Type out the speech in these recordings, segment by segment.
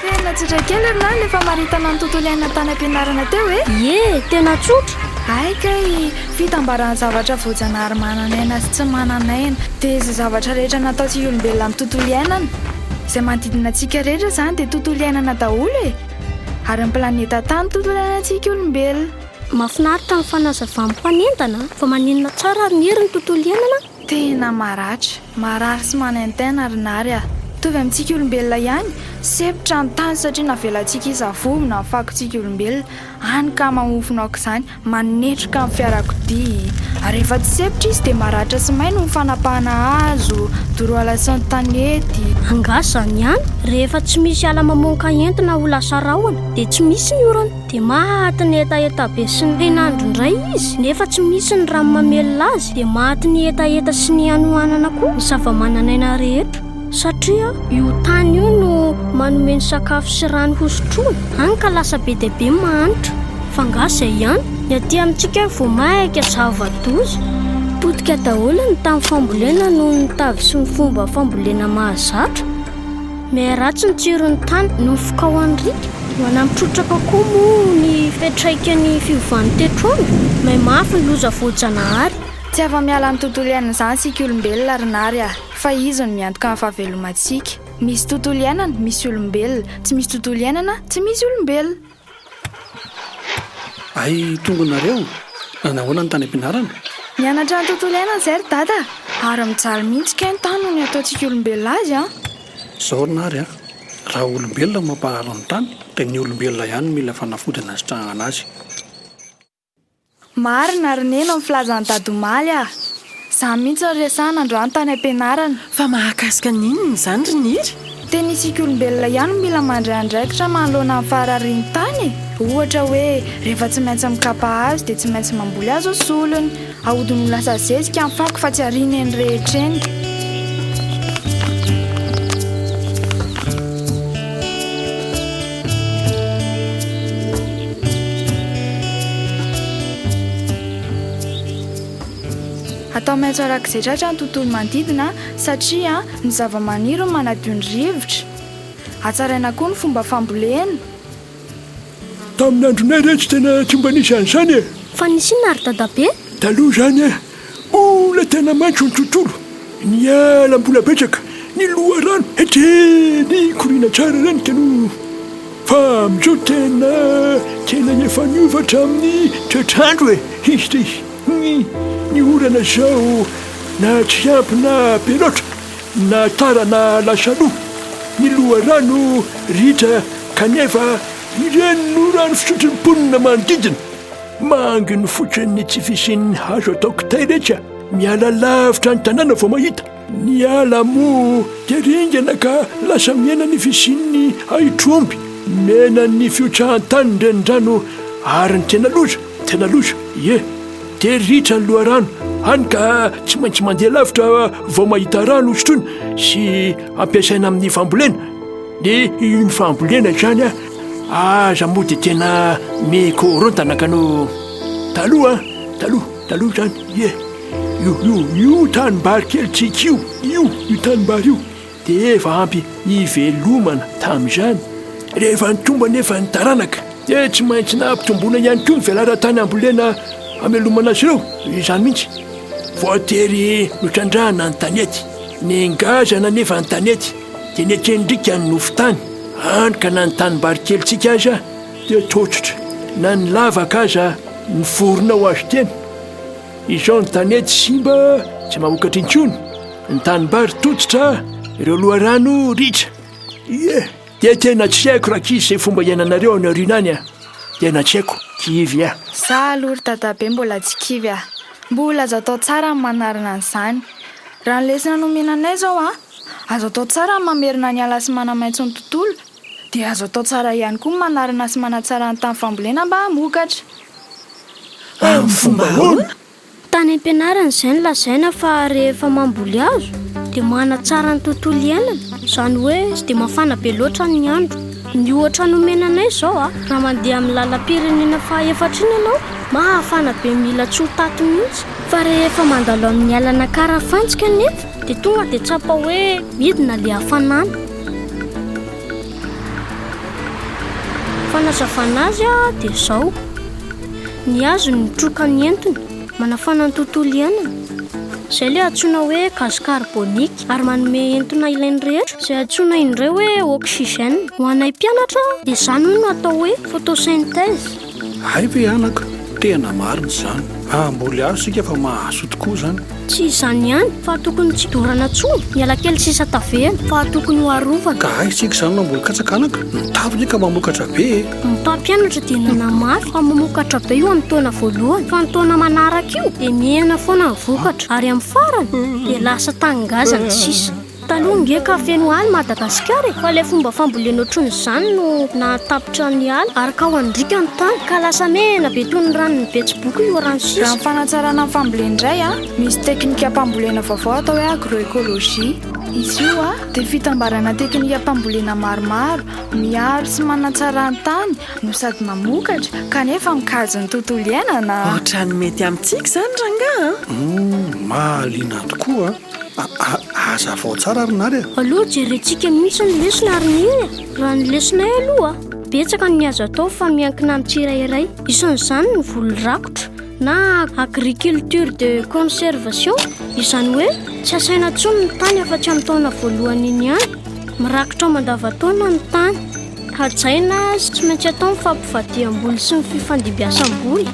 Tena tsotra kely ry lahy ilay famaritana ny tontolo iainana tany am-pianarana teo e! Ie, tena tsotra! Hay kay, fitambaran'ny zavatra voajanahary manan'aina sy tsy manan'aina, dia izay zavatra rehetra natao tsy olombelona amin'ny tontolo iainana. Izay manodidina antsika rehetra izany dia tontolo iainana daholo e! Ary ny planeta Tany tontolo iainantsika olombelona. Mahafinaritra ny fanazavan'ny mpanentana fa maninona tsara ary ny hery ny tontolo iainana? Tena maratra, marary sy manaintaina ry Nary a! Mitovy amintsika olombelona ihany, sempotra ny tany satria navelantsika hisavovo na fakontsika olombelona, any ka mamofona aoka izany, manetroka ny fiarakodia, ary rehefa tsy sempotra izy dia maratra sy may noho ny fanapahana hazo, doroala sy ny tanety. Angaha izany ihany? Rehefa tsy misy ala mamoaka entona ho lasa rahona dia tsy misy ny orana. dia maty ny hetaheta be sy ny hainandro indray izy, nefa tsy misy ny rano mamelona azy, dia maty ny hetaheta sy ny hanohanana koa ny zava-manan'aina rehetra, satria io tany io no manome ny sakafo sy rano hosotroina, hany ka lasa be dia be ny mahantra. F'angaha izay ihany? Ny aty amintsika vao maika zava-doza, potika daholo ny tany fambolena noho ny tavy sy ny fomba fambolena mahazatra. Miharatsy ny tsiron'ny tany noho ny fikaohan'ny riaka. Manampy trotraka koa moa ny fiantraikan'ny fiovan'ny toetr'andro. May mafy ny loza voajanahary. Tsy afa-miala amin'ny tontolo iainan'izany isika olombelona ry Nary a! Fa izy no miantoka ny fahavelomantsika. Misy tontolo iainana, misy olombelona. Tsy misy tontolo iainana, tsy misy olombelona. Hay tongony nareo? Nanao ahoana ny tany am-pianarana? Mianatra ny tontolo iainana izay ry Dada a! Ary mijaly mihitsy kay ny tany noho ny ataontsika olombelona azy an! Izao ry Nary a! Raha olombelona no mamparary ny tany dia ny olombelona ihany no mila fanafody hanasitrahana azy. Marina ry neny ny filazan'i dad'omaly ah! Zany mihitsy no resahana androany tany am-pianarana. Fa mahakasika ny inona izany ry niry? Tena isika olombelona ihany no mila mandray andraikitra manoloana ny fahararin'ny tany e! Ohatra hoe rehefa tsy maintsy mikapa hazo dia tsy maintsy mamboly hazo ny solony, Ahodiny ho lasa zezika ny fako fa tsy ariana eny rehetra eny. Atao maitso arak'izay tratra ny tontolo manodidina satria ny zavamaniry no manadio ny rivotra. Hatsaraina koa ny fomba fambolena. Tamin'ny andronay re tsy tena tsy mba nisy an'izany e! Fa nisy inona ry Dadabe? Taloha izany e, mbola tena maitso ny tontolo, ny ala mbola betsaka, ny loharano hetreny mikoriana tsara ireny ka no. Fa amin'izao tena tena efa niova hatramin'ny toetr'andro e! Hisy dia hisy ny orana izao na tsy ampy na be loatra. Na tara na lasa lo ny loharano ritra kanefa ireny no rano fisotry ny mponina manodidina. Mangy ny fotony ny tsy fisian'ny hazo atao kitay rehetra miala lavitra ny tanàna vao mahita. Ny ala moa dia ringana ka lasa mihena ny fisian'ny ahitr'omby, mena ny fiotsahan-tany ny renirano ary ny tena loza, tena loza, ie. Tery ritra ny loharano, hany ka tsy maintsy mandeha lavitra vao mahita rano hosotroina sy ampiasaina amin'ny fambolena. Ny iny fambolena izany aza moa dia tena mikorontana ka no taloha taloha taloha izany ie io io io tanimbary kely tsiky io io io tanimbary io Dia efa ampy hivelomana tamin'izany. Rehefa nitombo anefa ny taranaka, dia tsy maintsy nampitomboina ihany koa ny velaran-tany ambolena hamelomana azy ireo. Izany mihitsy. Voatery notrandrahana ny tanety. Nengazana anefa ny tanety, dia nekendrika ny nofon-tany, hany ka na ny tanimbary kelintsika aza dia tototra, na ny lavaka aza nivorona ho azo tena. Izao ny tanety simba tsy maha-vokatra intsony. Ny tanimbary tototra ireo loharano ritra. Ie, dia tena tsy haiko rankizy izay fomba iainanareo any aoriana any a! Tena tsy haiko, kivy a! Za aloha ry dadabe mbola tsy kivy a! Mbola azo atao tsara ny manarina an'izany. Raha ny lesona nomena anay izao a! Azo atao tsara ny mamerina ny ala sy manamaitso ny tontolo, dia azo atao tsara ihany koa ny manarina sy manatsara ny tany fambolena mba hamokatra. Amin'ny fomba ahoana? Tany am-pianarana izay no lazaina fa rehefa mamboly hazo dia manatsara ny tontolo iainana, izany hoe tsy dia mafana be loatra ny andro. Ny ohatra nomena anay izao, raha mandeha amin'ny lalam-pirenena faha-efatra iny ianao, mafana be mila tsy ho taty mihitsy. Fa rehefa mandalo amin'ny alana Karafantsika anefa dia tonga dia tsapa hoe midina ilay hafanana. Ny fanazavana azy dia izao. Ny azony mitroka ny entona manafana ny tontolo iainana, izay ilay antsoina hoe gaz carbonique ary manome entona ilain'ny rehetra, izay antsoina indray hoe oxygène. Ho anay mpianatra dia izany hoy no atao hoe photosynthèse. Hay ve anaka? Tena marina izany. Hamboly hazo isika fa mahazo tokoa izany. Tsy izany ihany fa tokony tsy dorana intsony ny alakely sisa tavela fa tokony ho arovana. Ka aiza isika izany mamboly katsaka anaka? Ny tavy anie ka mamokatra be e! Ny mpampianatra dia nanamafy fa mamokatra be eo amin'ny taona voalohany fa ny taona manaraka io dia mihena foana ny vokatra ary amin'ny farany dia lasa tany ngazana sisa. Taloha nge ka feno ala i Madagasikara e! Fa ilay fomba fambolena ohatrin'izany no nahatapitra ny ala ary ka wandriaka ny tany ka lasa mena be toy ny ranon'ny betsiboka io rano sisa. Raha ny fanatsarana ny fambolena indray a, misy teknikam-pambolena vaovao atao hoe agroecologie. Izy io a, dia fitambarana teknikam-pambolena maromaro miaro sy manatsara ny tany no sady mamokatra kanefa mikajy ny tontolo iainana. Ohatran'ny mety amintsika izany rangahy a! Humm, mahaliana tokoa! Aa azavao tsara ry nary a! Aleo jerentsika mihitsy ny lesona ry neny a! Raha ny lesonay aloha betsaka ny azo atao fa miankina amin'ny tsirairay, isan'izany ny voly rakotra na agriculture de conservation, izany hoe tsy asaina intsony ny tany afa-tsy amin'ny taona voalohany iny ihany, mirakotra mandavantaona ny tany. Hajaina sy tsy maintsy atao ny fampivadiam-boly sy ny fifandimbiasam-boly.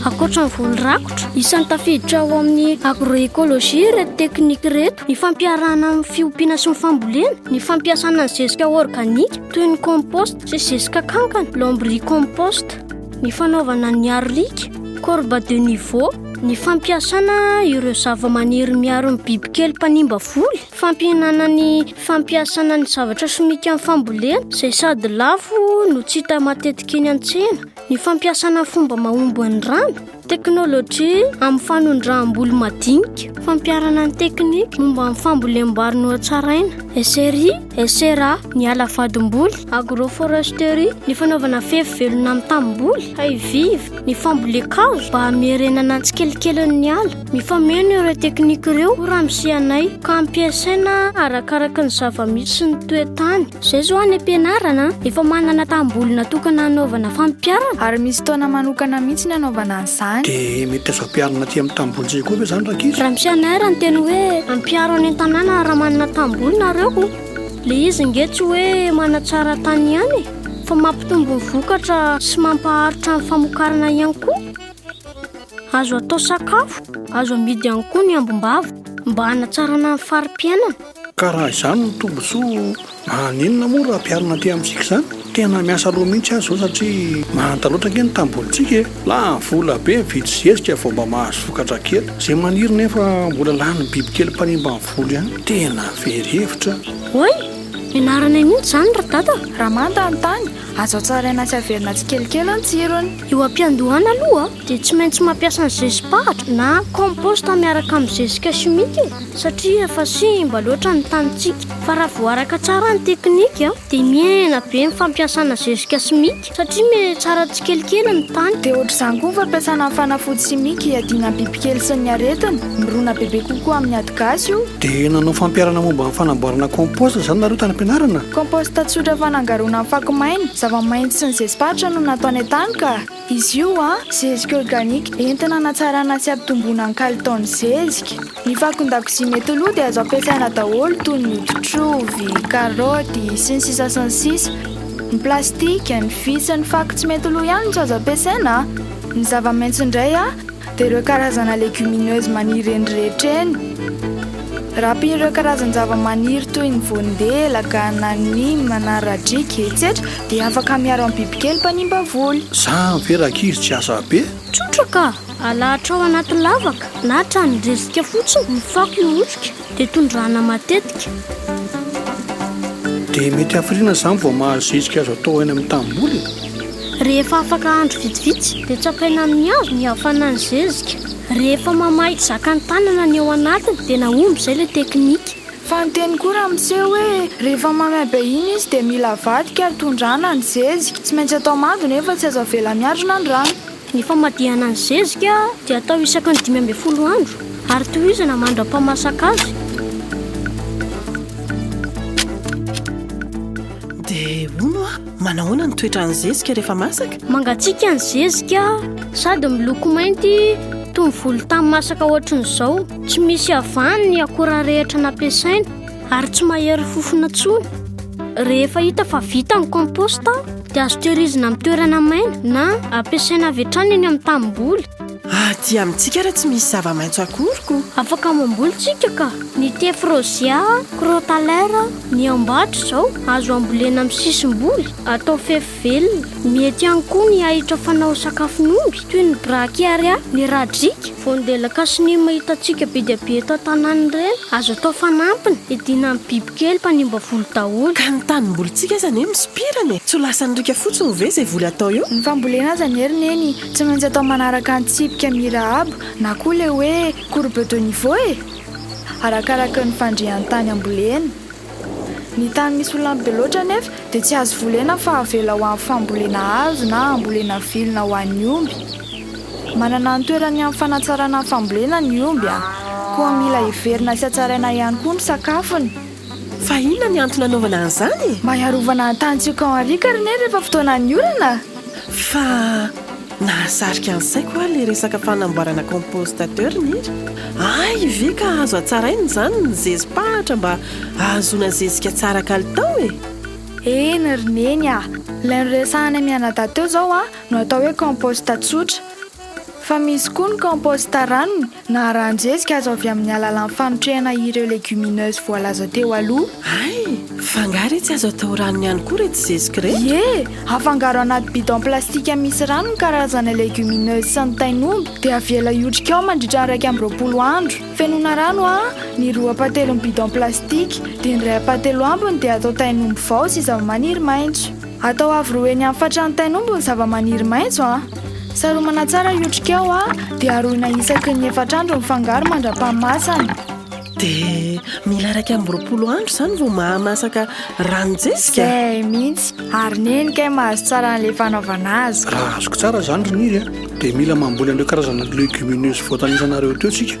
Ankoatra ny voly rakotra, isan'ny tafiditra ao amin'ny agroecologie ireto teknika ireto, ny fampiarahana amin'ny fiompiana sy ny fambolena, ny fampiasana ny zezika organika toy ny compost sy zezika kankana, lombricompost. ny fanaovana ny arlika, corba de niveau, ny fampiasana ireo zava-maniry miaro ny bibikely mpanimba voly, fampihenana ny fampiasana ny zavatra simika amin'ny fambolena izay sady lafo no tsy hita matetika eny an-tsena, ny fampiasana fomba mahomby ny rano, Teknolojia amin'ny fanondraham-bolo madinika, fampiharana ny teknika momba ny fambolem-bary nohatsaraina, SRI, SRA, ny ala vadim-boly, agroforesterie, ny fanaovana fefy velona amin'ny tamim-boly, Hayviv, ny fambolen-kazo mba hamerenana ny tsikelikely ny ala. Mifameno ireo teknika ireo, hoy Ramsianay, ka ampiasaina arakaraka ny zava-misy sy ny toe-tany. Zay zao any am-pianarana efa manana tanimbolona tokana hanaovana fampiarana. Ary misy taona manokana mihitsy ny hanaovana an'izany. Dia mety azo ampiharina aty amin'ny tanimbolontsika koa ve izany rankizy? Raha misy an'air ny teny hoe ampiaro any an-tanàna raha manana tanimboly nareo, ilay izy ange tsy hoe manatsara tany ihany e, fa mampitombo ny vokatra sy mampaharitra ny famokarana ihany koa. Azo atao sakafo, azo amidy ihany koa ny ambom-bava mba hanatsarana ny fari-piainana. Ka raha izany no tombontsoa, maninona moa raha ampiharina aty amintsika izany? Tena miasa loha mihitsy aho izao satria manta loatra ange ny tanimbolintsika e! Lany vola be mividy zezika vao mba mahazo vokatra kely. Izay maniry nefa mbola lanin'ny bibikely mpanimba ny voly ihany. Tena very hevitra. Oay! Ianaranay mihitsy izany ry dada! Raha manta ny tany, azo hatsaraina sy averina tsikelikely ny tsirony. Eo am-piandohana aloha. dia tsy maintsy mampiasa ny zezi-pahatra na compost miaraka amin'ny zezika chimique e, satria efa simba loatra ny tanintsika. Fa raha vao araka tsara ny teknika dia mihena be ny fampiasana zezika simika satria mety tsara tsikelikely ny tany. Dia ohatr'izany koa ny fampiasana ny fanafody simika hiadiana amin'ny bibikely sy ny aretina. Mirona bebe kokoa amin'ny ady gasy io. Dia nanao fampiharana momba ny fanamboarana compost izany nareo tany am-pianarana? Compost tsotra fanangaroana ny fako maina, zava-maitso sy ny zezi-pahatra no natao any an-tany ka. Izy io, a, zezika organika, entina hanatsarana sy hampitomboana ny kalitaon'ny zezika. Ny fakon-dakozia mety ho lo dia azo ampiasaina daholo toy ny hoditr'ovy, karaoty, sy ny sisa sy ny sisa. Ny plastika, ny vy sy ny fako tsy mety ho lo ihany no tsy azo ampiasaina, a. Ny zava-maitso indray, a, Dia ireo karazana légumineuse maniry eny rehetra eny. Raha ampiana ireo karazan-javamaniry toy ny voandelaka na nim na radriaka etsetra dia afaka miaro amin'ny bibikely mpanimba voly. Zany ve rankizy tsy asa be? Tsotra ka! Alahatrao anaty lavaka na tranon-drisika fotsiny ny fako hihotrika. Dia tondrahana matetika. Dia mety hafiriana izany vao mahazo zezika azo atao aina amin'ny tanimboly? Rehefa afaka andro vitsivitsy dia tsapaina amin'ny hazo ny hafanan'ny zezika. Rehefa mamaha ity zakan'ny tanana ny ao anatiny dia nahomby izay ilay teknika. Fa ny teny koa raha miseho hoe rehefa mamaibe iny izy dia mila avadika ary tondrahana ny zezika. Tsy maintsy atao mando nefa tsy azo avela miadrona ny rano. Ny famadihana ny zezika dia atao isaky ny dimy ambin'ny folo andro ary tohizana mandra-pahamasaka azy. Dia hono hoa, manahoana ny toetran'ny zezika rehefa masaka? Mangatsiaka ny zezika sady miloko mainty toy ny volontany masaka ohatrin'izao. Tsy misy havany ny akora rehetra nampiasaina. ary tsy mahery fofona tsony. Rehefa hita fa vita ny komposta dia azo tehirizina amin'ny toerana maina na ampiasaina avy hatrany eny amin'ny tanimboly. Aty ah, amintsika ary tsy misy zava-maitso akory ko. Afaka mamboly tsika ka. Ny thé frosia, crotalera, ny ambato izao azo ambolena amin'ny sisim-boly, atao fefy. Velona. Mety ihany koa ny ahitra fanao sakafon'omby, toy ny Brachiaria mirajrica. Vao ny delakasnima hitantsika be dia be eto an-tanàna ireny. Azo atao fanampiny, iadiana amin'ny bibikely mpanimba voly daholo. Ka ny tanimbolintsika aza anie misopirana e! Tsy ho lasan'ny riaka fotsiny ve izay voly atao eo? Ny fambolena aza anie ry Neny tsy maintsy atao manaraka ny tsipika mirahabo na koa ilay hoe courbe de niveau e! Arakaraky ny fandrian'ny tany ambolena. Ny tany misy olanby be loatra anefa dia tsy azo volena fa avela ho amin'ny fambolena hazo na hambolena vilona ho an'ny omby. Manana ny toerany amin'ny fanatsarana ny fambolena ny omby, koa mila heverina sy hatsaraina ihany koa ny sakafony. Fa inona ny antony hanaovana an'izany? Mba hiarovana ny tanintsika ao Henrique ry neny rehefa fotoanan'ny orana. Fa. Nahasarika ny saiko hoa ilay resaka fanamboarana compost ateur nir ay ve ka azo hatsaraina izany ny zezi-pahatra mba hahazoana zezika tsara kalitao e! Eny ry neny a! Ilay noresahanay mianadahy teo izao no atao hoe compost tsotra. Fa misy koa ny compost ranony Na arahan-jezika azo avy amin'ny alalan'ny fanotrehana ireo légumineuses voalaza teo aloha. Hay! Fa angaha re tsy azo atao ranony ihany koa ireto zezika ireto? Ie! Afangaro anaty bidon plastika misy rano ny karazana légumineuses sy ny tain'omby dia avela hiotrika ao mandritra ny iraika amby roapolo andro. Fenoina rano an! ny roa ampahatelon'ny bidon plastika dia ny iray ampahateloambiny dia atao tain'omby vao sy zavamaniry maitso. Atao avo roa eny amin'ny fatran'ny tain'omby ny zavamaniry maitso a. Saromana tsara io otrikao a, dia aroina isaky ny efatr'andro ny fangaro mandra-pahamasana. Dia mila iraika amby roapolo andro izany vao mahamasaka ranon-jezika? Izay mihitsy. Ary neny kay mahazo tsara an'ilay fanaovana azy. Raha azoko tsara izany ry Niry a, dia mila mamboly an'ireo karazana legumineuses voatanisa anareo teo isika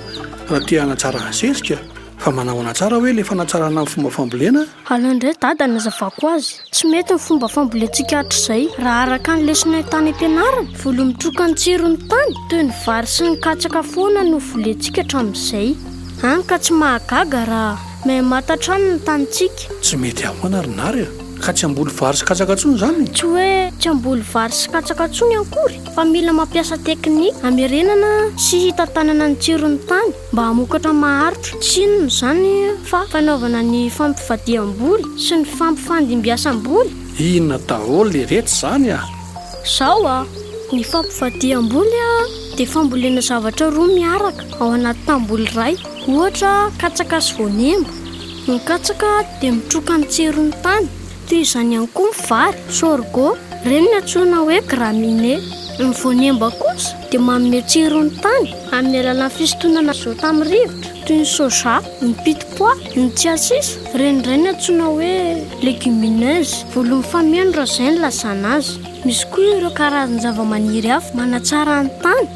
raha te hanatsara ny zezika. Fa manahoana tsara hoe ilay fanatsarana ny fomba fambolena? Aleo indray dada anazavako azy. Tsy mety ny fomba fambolentsika hatrizay. Raha araka ny lesonan tany am-pianarana, voly mitroka ny tsiron'ny tany, toy ny vary sy ny katsaka foana no volentsika hatramin'izay. Hany ka tsy mahagaga raha maimata hatrany ny tanintsika. Tsy mety ahoana ry nary a! Ka tsy hamboly vary sy katsaka intsony izany e! Tsy hoe tsy hamboly vary sy katsaka intsony ankory, fa mila mampiasa teknika hamerenana sy hitantanana ny tsiron'ny tany. mba hamokatra maharitra. Tsy inona izany fa fanaovana ny fampivadiham-boly sy ny fampifandimbiasam-boly. Inona daholo iretsy izany a? Izao a, ny fampivadiham-boly a, dia fambolena zavatra roa miaraka ao anaty tanimboly iray, ohatra katsaka sy voanemba. Ny katsaka dia mitroka ny tseron'ny tany. Toy izany ihany koa ny vary, sorgho, ireny antsoina hoe graminées. Ny voanemba kosa dia manome tsiro ny tany amin'ny alalan'ny fisintonana azote amin'ny rivotra, toy ny soja, ny pit pois, ny tsiasisa, ireny indray no antsoina hoe légumineuses, volon'ny fameno raha izay no ilazana azy. Misy koa ireo karazan-javamaniry hafa manatsara ny tany.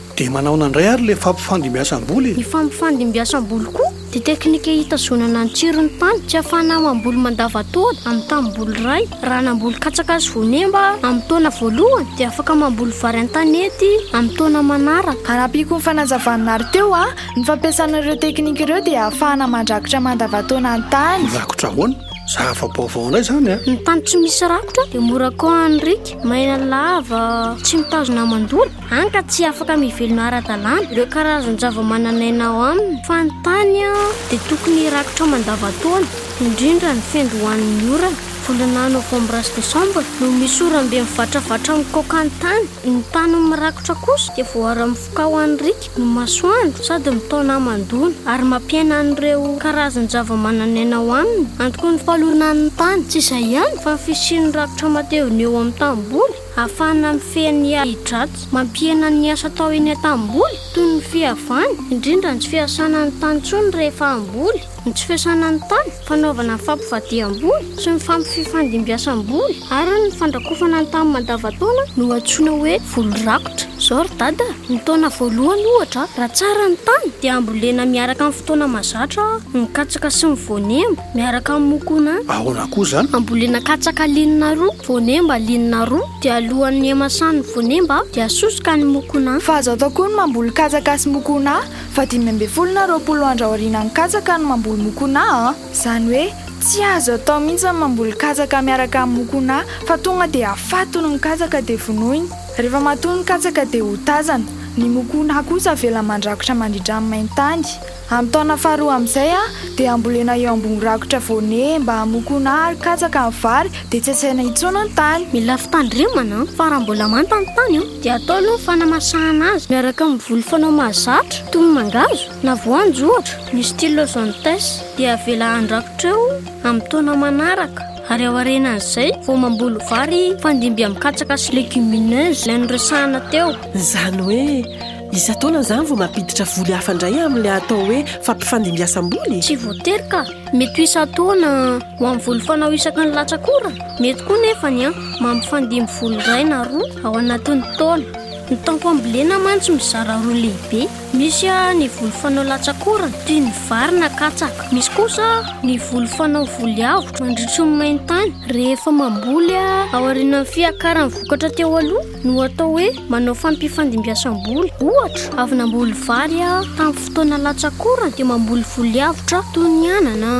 Dia manaona indray ary ilay fampifandimbiasam-boly e? Ny fampifandimbiasam-boly koa dia teknika hitazonana ny tsiron'ny tany sy hahafahana mamboly mandavantaona amin'ny tanimboly iray. Raha namboly katsaka sy voanemba amin'ny taona voalohany dia afaka mamboly vary an-tanety amin'ny taona manaraka. Arapiko ny fanazavan'Nary teo a, ny fampiasana ireo teknika ireo dia ahafahana mandrakotra mandavantaona ny tany. Mirakotra ahoana? Zava-baovao indray izany a! Ny tany tsy misy rakotra dia mora koahan'ny riaka, maina lava, tsy mitazona aman-doha. Hany ka tsy afaka mivelona ara-dalàna ireo karazan-javamananaina ao aminy fa ny tany dia tokony hirakotra mandavan-taona, indrindra ny fendo ho an'ny orana. Volana novambra sy desambra no misy oram-be mivatravatra mikaoka ny tany. Ny tany mirakotra kosa dia voara-mifoka ho an'ny riaka ny masoandro sady mitaona hamandoana ary mampiaina an'ireo karazan-javamananaina ao aminy. Antony fahalonan'ny tany tsy izay ihany fa ny fisian'ny rakotra matevina eo amin'ny tanimboly. Ahafahana mifehy ny ahi-dratsy mampihena ny asa atao eny an-tanimboly, toy ny fihavana, indrindra ny tsy fiasana ny tany intsony rehefa hamboly, ny tsy fiasana ny tany, fanaovana ny fampivadiham-boly sy ny fampififandimbiasam-boly ary ny fandrakofana ny tany mandavantaona no antsoina hoe voly rakotra. Izao ry dada, ny taona voalohany ohatra, raha tsara ny tany dia ambolena miaraka amin'ny fotoana mahazatra ny katsaka sy ny voanemba. miaraka amin'ny mokona. Ahoana koa izany? Ambolena katsaka linona roa, voanemba linona roa, dia alohan'ny hamasan'ny voanemba dia asosoka ny mokona. Fa azo atao koa ny mamboly katsaka sy mokona fa dimy ambin'ny folo na roapolo andro aorianan'ny katsaka no mamboly mokona a! Izany hoe tsy azo atao mihitsy ny mamboly katsaka miaraka amin'ny mokona fa tonga dia afatony ny katsaka dia vonoiny. Rehefa matoy ny katsaka dia hotazana. Ny mokona kosa avela mandrakotra mandritra ny main-tany. Amin'ny taona faharoa amin'izay dia hambolena eo ambony rakotra voanier mba hamokoana ary katsaka ny vary dia tsy asaina intsony ny tany. Mila fitandremana fa raha mbola manta ny tany dia atao aloha ny fanamasahana azy miaraka amin'ny voly fanao mahazatra toy ny mangahazo na voanjo ohatra. Ny Stylozoantes dia avela handrakotra eo amin'ny taona manaraka ary aorianan'izay vao mamboly vary hifandimby amin'ny katsaka sy legumineuses ilay noresahana teo. Izany hoe Isan-taona izany vao mampiditra voly hafa indray amin'ilay atao hoe fampifandimbiasam-boly? Tsy voatery ka. Mety ho isan-taona ho amin'ny voly fanao isaky ny latsak'ora. Mety koa nefa ny mampifandimby voly iray na roa ao anatin'ny taona. Ny taom pambolena mantsy mizara roa lehibe. Misy ny voly fanao latsak'ora toy ny vary na katsaka. Misy kosa ny voly fanao voly avotra mandritry ny main-tany rehefa mamboly aorianan'ny fiakaran'ny vokatra teo aloha. no atao hoe manao fampifandimbiasam-boly. Ohatra, avy namboly vary aho tamin'ny fotoana latsa-korany dia mamboly voly avotra aho toy ny anana,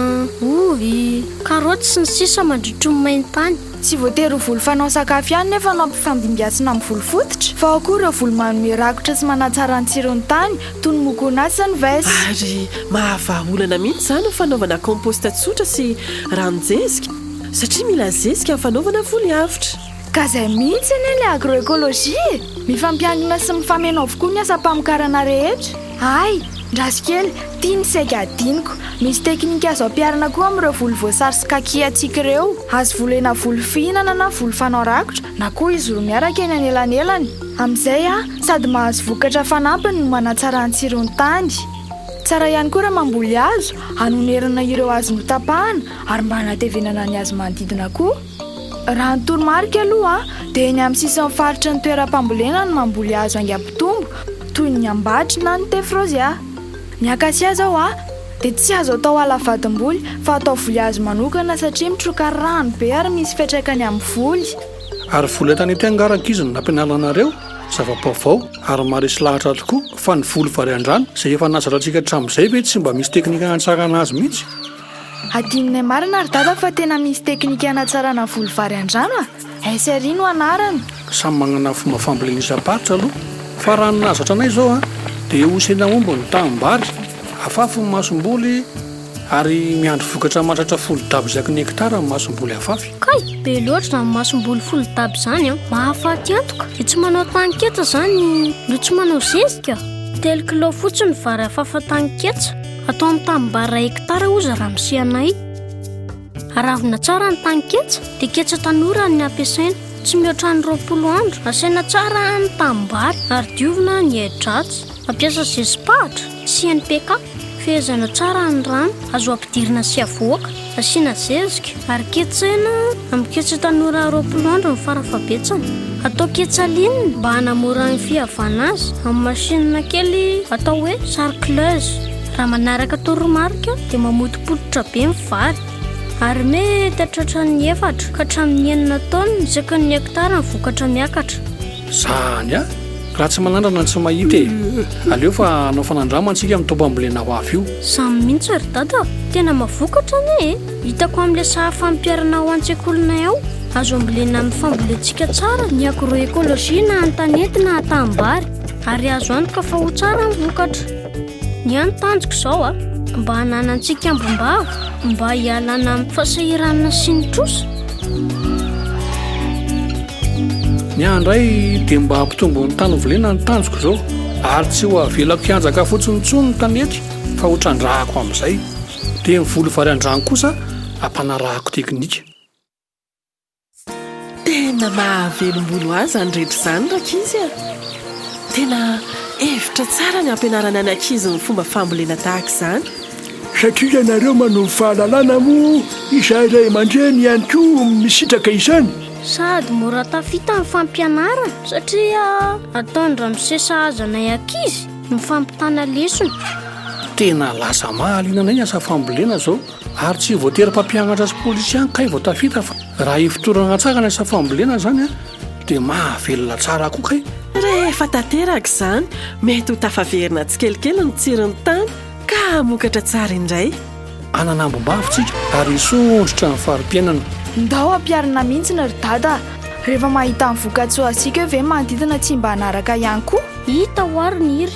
ovy, karaoty sy ny sisa mandritry ny main-tany. Tsy voatery ho voly fanao sakafo ihany nefa no ampifandimbiasina amin'ny voly fototra fa ao koa ireo voly manome rakotra sy manatsara ny tsiron'ny tany toy ny mokoanà sy ny vest. Ary mahavaha olana mihitsy izany ny fanaovana compost tsotra sy ranon-jezika satria mila zezika ny fanaovana voly avotra. Ka zay mihitsy anie ny agro-ecologie e! Mifampiankina sy mifameno avokoa ny asam-pamokarana rehetra. Hay! Ndraso kely, ity ny saika hadinoko, misy teknika azo ampiharina koa amin'ireo voly voasary sy kaki antsika ireo. Azo volena voly fihinana na voly fanao rakotra na koa izy roa miaraka eny anelanelany. Amin'izay sady mahazo vokatra fanampiny no manatsara ny tsiron'ny tany. Tsara ihany koa raha mamboly hazo hanonerana ireo hazo notapahana ary mba hanatevenana ny hazo manodidina koa. Raha ny toromarika aloha dia eny amin'ny sisin'ny faritry ny toeram-pambolena no mamboly hazo haingam-pitombo toy ny ambatry na ny tefrozia. Ny akasia izao dia tsy azo atao ala vadim-boly fa atao voly hazo manokana satria mitroka rano be ary misy fiantraikany amin'ny voly. Ary voly entana ety angaraka izy no nampianarana anareo, zava-baovao ary maharesy lahatra tokoa, fa ny voly varian-drano izay efa nazarantsika hatramin'izay ve tsy mba misy teknika hanatsarana azy mihitsy? Adinonay marina ry dada fa tena misy teknika hanatsarana volo vary an-drano a! SRI no anarany. Samy magnana fomba fambolena isam-paritra aloha fa raha ny nahazatra anay izao a dia hosena aomby ny tahim-bary, afafy ny masomboly ary miandry vokatra mahatratra folo dab isaky ny hekitara ny masomboly afafy. Kay! Be loatra izany masomboly folo dab izany an! Mahafaty antoka! Dia tsy manao tany ketsa izany no tsy manao zezika? Telo kilao fotsiny ny vary afafa tany ketsa. Atao amin'ny tanimbary iray hektara oza raha misy anay. Aravina tsara ny tany ketsa dia ketsa tanora ny ampiasaina. Tsy mihoatra ny roapolo andro. Asaina tsara ny tanimbary ary diovina ny ahi-dratsy. Ampiasa zezi-pahatra sy NPK. Fehezana tsara ny rano. Azo ampidirina sy avoaka. Asiana zezika ary ketsaina amin'ny ketsa tanora roapolo andro ny farafabetsany. Atao ketsa ligne mba hanamora ny fihavana azy amin'ny machine kely atao hoe sarcleuse. Raha manaraka toromarika dia mamotopototra be ny vary ary mety hahatratra ny efatra ka hatramin'ny enina taonina isaky ny hekitara ny vokatra miakatra. Zany a! Raha tsy manandrana ny tsy mahita e! Aleo fa hanao fanandrama antsika amin'ny toby ambolena ho avy io. Zany mihitsy ry dada, tena mavokatra anie e! Hitako amin'ilay sary fampiharana ao an-tsekolinay ao, azo ambolena amin'ny fambolentsika tsara ny agro-ecologie na an-tanety na an-tanimbary ary azo antoka fa ho tsara ny vokatra. Ny ahy ny tanjoko izao a, mba hananantsika ambom-bava, mba hialana amin'ny fahasahiranana sy ny trosa. Ny ahy indray dia mba hampitombo ny tany hovolena ny tanjoko izao, ary tsy ho avelako hianjaka fotsiny intsony ny tanety fa ho trandrahako amin'izay, dia ny voly vary an-drano kosa ampanarahako teknika. Tena mahavelombolo ahy izany rehetra izany rankizy a! Tena hevitra tsara ny hampianarana ny ankizy ny fomba fambolena tahaka izany. Satria ianareo manovo fahalalana moa izahay ray aman-dreny ihany koa misitraka izany. Sady mora tafita ny fampianarana satria ataon-dramose sahaza anay ankizy ny fampitana lesona. Tena lasa mahaliana anay ny asa fambolena izao. Ary tsy voatery mpampianatra sy polisy ihany kay vao tafita fa raha ifotorana an-tsakana sa fambolena izany an, dia mahavelona tsara koa kay. Rehefa tanteraka izany, mety ho tafaverina tsikelikely ny tsiron'ny tany ka hamokatra tsara indray. Hanana ambom-bavy tsika ary hisondrotra ny fari-piainana. Ndao ampiharina mintsy ny ry dada a! Rehefa mahita ny vokatsoa asiko eo ve manodidina tsy mba hanaraka ihany koa? Hita ho'a ry Niry.